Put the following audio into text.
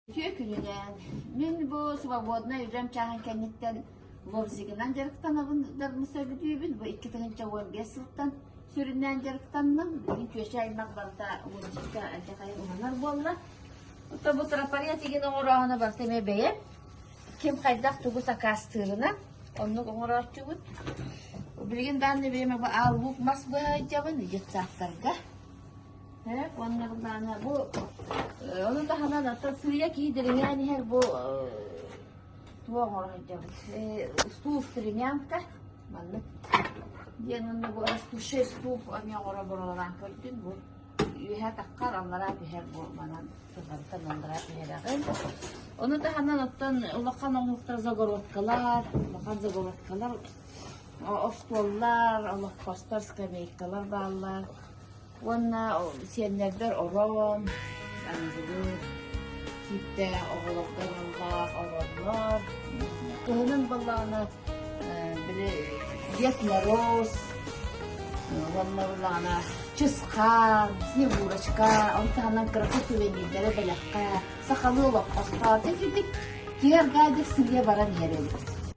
Үтүө күнүгэ! Мин бу свободнай үлэм чааһын кэнниттэн лобзигынан дьарыктанабын дарбын сөбүлүүбүн. Бу икки тыһыынча уон биэс сылтан сүрүннээн дьарыктанным. Билигин күөчэ аймах барыта мультикка алдьархайын уманар буолла. Ото бу тропария тигин оҥорооһуна барыта эмиэ бэйэм. Ким хайдах тугу сакаастыырынан оннук оҥорооччубут. Билигин даанна биэме бу ааллуук мас быһайдьабын, детсадтарга. Э, уонна былаана бу э, ону таһынан ата сыыйа киидириҥээн иһэр бу туох оҥоройдобут стул стренянка маннык диэн уонна бу растущий стул эмиэ оҥоро буралаан көрдүн бу үөһэ таххар аллараа түһэр бу манан сылгантан аллараа түһэрэҕин ону таһынан оттон улахан оҥоһуктар загородкалар улахан загородкалар остуоллар олоххостор скамейкалар бааллар Уонна сиэннэрбэр ороон, былыр киэптээх оҕолорго аналлаах ороннор, кыһынын балаҕана били Дед Мороз, уонна балаҕана Чысхаан, Снегурочка, он таһынан кыракый сувенирдары бэлэххэ, сахалыы олоппоско, дик-дик киэргээдик сиргэ баран иһэр эбит.